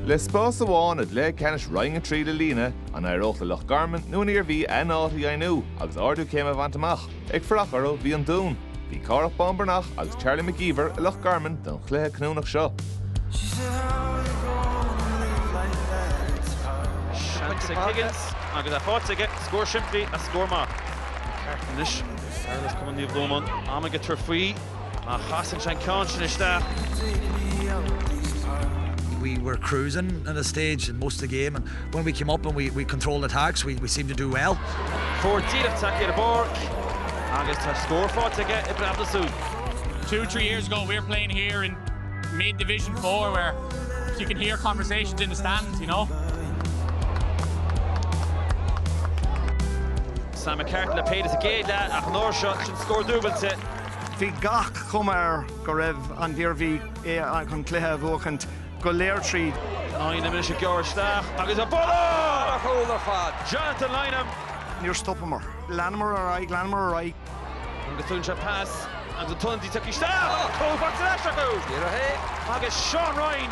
Le spás amháin i gCluiche Ceannais Roinn 3 le líonadh, an éireodh le Loch Garman nó an Iarmhí a n-áit a dheimhniú agus ardú céime a bhaint amach? Ag fanacht orthu bhí an Dún. Bhí Cárthach Bán Breathnach agus Charlie McGeever i Loch Garman don chluiche cinniúnach seo. Seans ag Higgins agus é faighte aige scór simplí ach scór maith. Ceartaithe anois agus fear as Cumann Naomh Lomán am aige tabhairt faoi. Ach chasann sé an ceann sin isteach. We were cruising in a stage in most of the game and when we came up and we, we controlled attacks we, we seemed to do well. Fór díreach take ar bord agus tá scór fáte aige i brabda sú. Two, three years ago we were playing here in mid division four where you can hear conversations in the stands, you know. Sam McCartan le péidir a géad le ach an nóir seo sin scór dúbailte Bhí gach cuma air go raibh an Iarmhí chun an cluiche a bhuachaint don chuid is mó tríd. Lynam anois ag gearradh isteach agus an buille thar a chúl ar fad! Jonathan Lynam. Níor stopamar. Leanamar ar aghaidh, leanamar ar aghaidh. Agus tugann sé pas agus an t-ionadaí tugtha isteach agus cúl faighte ar ais acu! Díreach é agus Seán Ryan!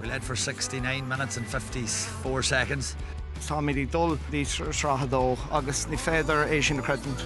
We led for sixty nine minutes and fifty four seconds. Táimid ag dul go dtí Sraith a Dó agus ní féidir é sin a chreidiúint.